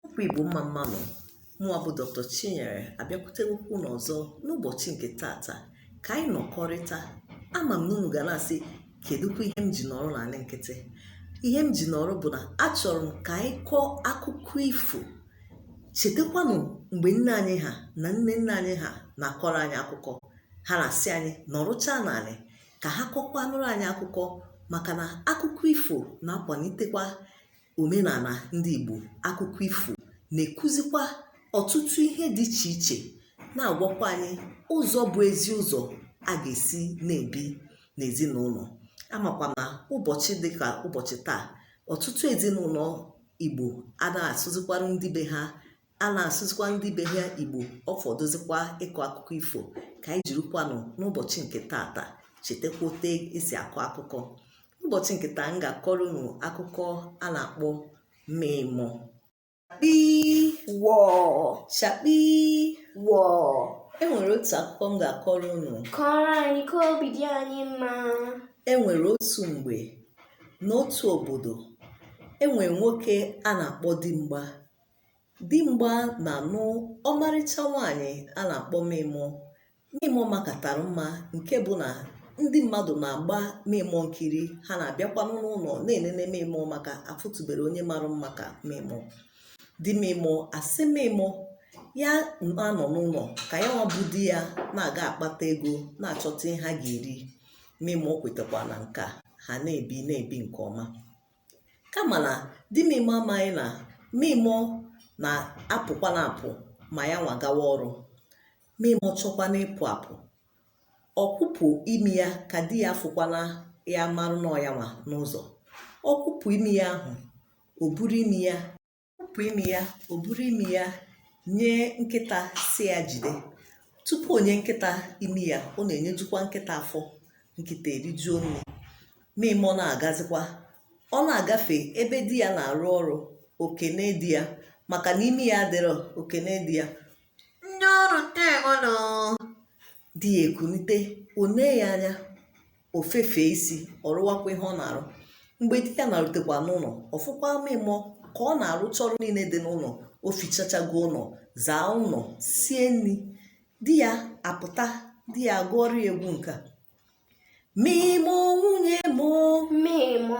Okwu Igbo mma mma nụ mụwa bụ Dr. Chinyere abịakwutekwa unu ọzọ n'ụbọchị nke tata ka anyị nọkọrịta ama m na unu ga na-asị kedụkwa ihe m ji nọrọ n'ala nkịtị ihe m ji nọrọ bụ na achọrọ m ka anyị kọọ akụkọ ifo chetakwanụ mgbe nne anyị ha na nne nne anyị ha na-akọrọ anyị akụkọ ha na-asị anyị nọrụcha n'ala ka ha kọkwanụrụ anyị akụkọ maka na akụkọ ifo na-akwalitekwa omenala ndị Igbo akụkọ ifo na-ekuzikwa ọtụtụ ihe dị iche iche na-agwakwa anyị ụzọ bụ ezi ụzọ a ga-esi na-ebi n'ezinụlọ amakwa na ụbọchị dị ka ụbọchị taa ọtụtụ ezinụlọ Igbo anaghị asụzikwara ndị be ha anaghị asụzikwa ndị be ha Igbo ọ fọdụzikwa ịkọ akụkọ ifo ka anyị jirikwanụ n'ụbọchị nke tata chetakwa otu esi akọ akụkọ ụbọchị nke taa m ga-akọrọ unu akụkọ a na-akpọ Mịmọ chakpii wọọ chakpii wọọ e nwere otu akụkọ m ga-akọrọ unu kọrọ anyị ka obi dị anyị mma e nwere otu mgbe n'otu obodo e nwere nwoke a na-akpọ Dimgba Dimgba na-anụ ọmarịcha nwaanyị a na-akpọ Mịmọ. Mịmọ makatara mma nke bụ na ndị mmadụ na-agba Mịmọ nkiri ha na-abịakwanụ n'ụlọ na-enene Mịmọ maka afụtụberọ onye mara mma ka Mịmọ. Di Mịmọ asị Mịmọ ya na-anọ n'ụlọ ka ya nwa bụ di ya na-aga akpata ego na-achọta ihe ha ga-eri. Mịmọ kwetakwa na nka ha na-ebi na-ebi nke ọma. kama na di Mịmọ amaghị na Mịmọ na-apụkwa na-apụ ma ya nwa gawa ọrụ Mịmọ chọkwanụ ịpụ apụ ọ kpụpụ imi ya ka di ya afụkwana ya marụ na ọ ya nwa n'ụzọ ọ kpụpụ imi ya ahụ o buru imi ya kpụpụ imi ya o buru imi ya nye nkịta sị ya jide tupu o nye nkịta imi ya ọ na-enyejukwa nkịta afọ nkịta erijuo nri Mịmọ na-agazikwa ọ na-agafe ebe di ya na-arụ ọrụ o kenee di ya maka na imi ya adịrọ o kenee di ya ndị ọrụ ndeewo nụ di ya ekunite o nee ya anya o fefee isi ọ rụwakwa ihe ọ na-arụ mgbe di ya na-arutekwa n'ụlọ ọ fụkwa Mịmọ ka ọ na-arụcha ọrụ niile dị n'ụlọ o fichachago ụlọ zaa ụlọ sie nri di ya apụta di ya gụọrọ ya egwu nke a Mịmọ nwunye m o Mịmọ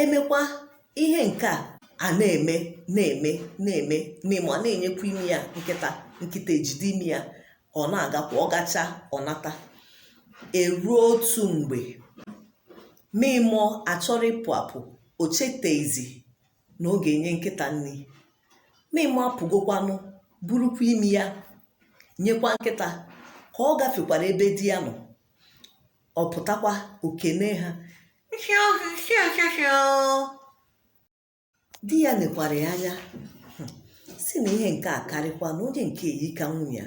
emekwa ihe nke a na-eme na-eme na-eme mịmọ ana-enyekwa imi ya nkịta nkịta ejide imi ya ọ na-agakwa ọ gacha ọ nata eruo otu mgbe mịmọ achọrọ ịpụ apụ o cheteghizi na ọ ga-enye nkịta nri mịmọ apụgokwanụ burukwa imi ya nyekwa nkịta ka ọ gafekwara ebe di ya nọ ọ pụtakwa o kenee ha di ya nekwara ya anya sị na ihe nke a karịkwa na onye nke a eyika nwunye ya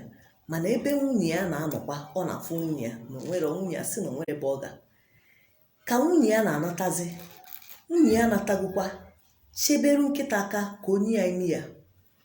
mana ebe nwunye ya na-anọkwa ọ na-afụ nwunye ya na o nwere nwunye ya sị na o nwere ebe ọ ga ka nwunye ya na-anatazi nwunye ya anatagokwa cheberu nkịta aka ka o nye ya imi ya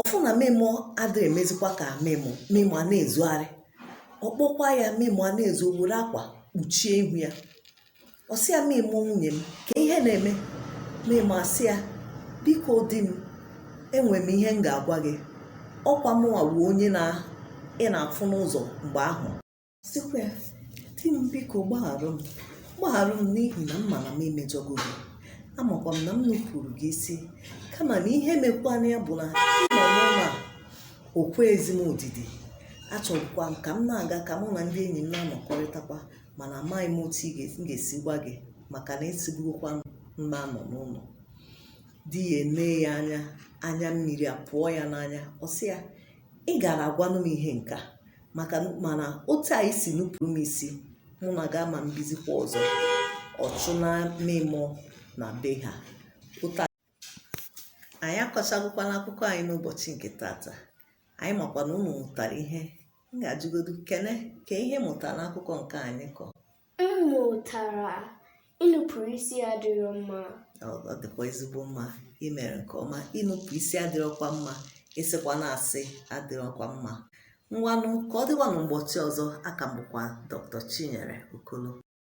ọ fụ na mịmọ adịrọ emezikwa ka mịmọ mịmọ ana-ezogharị ọ kpọkwa ya mịmọ ana-ezo were akwa kpuchie ihu ya ọ sị ya mịmọ nwunye m kee ihe na-eme mịmọ asị ya biko di m enwere m ihe m ga-agwa gị ọ kwa mụnwa bụ onye na ị na-afụ n'ụzọ mgbe ahụ sịkwa ya di m biko gbagharụ m gbagharụ m n'ihi na m ma na m emejọgo gị amakwa m na m nupụrụ gị isi kama na ihe mekwanụ ya bụ na ịnọ n'ụlọ a o kwezi m odidi achọrọkwa m ka m na-aga ka mụ na ndị enyi m na-anọkọrịtakwa mana amaghị m otu ị ga- m ga-esi gwa gị maka na ị sịbugokwa m na-anọ n'ụlọ di ya enee ya anya anya mmiri apụọ ya n'anya ọ sị ya ị gara agwanụ m ihe nke a maka mana otu a i si nupụrụ m isi mụ na gị ama ebizikwa ọzọ ọ chụnaa mịmọ na be ha anyị akọchagokwanụ akụkọ anyị n'ụbọchị nke tata anyị makwa na ụnụ mụtara ihe m ga-ajụgodu Kene kee ihe ị mụtara n'akụkọ nke anyị kọ M mụtara inupụrụ isi adịrọ mma. Ọ ọ dịkwa ezigbo mma i mere nke ọma inupụ isi adịrọkwa mma ịsịkwanụ asị adịrọkwa mma ngwanụ ka ọ dịwanụ mbọchị ọzọ a ka m bụkwa Dr. Chinyere Okolo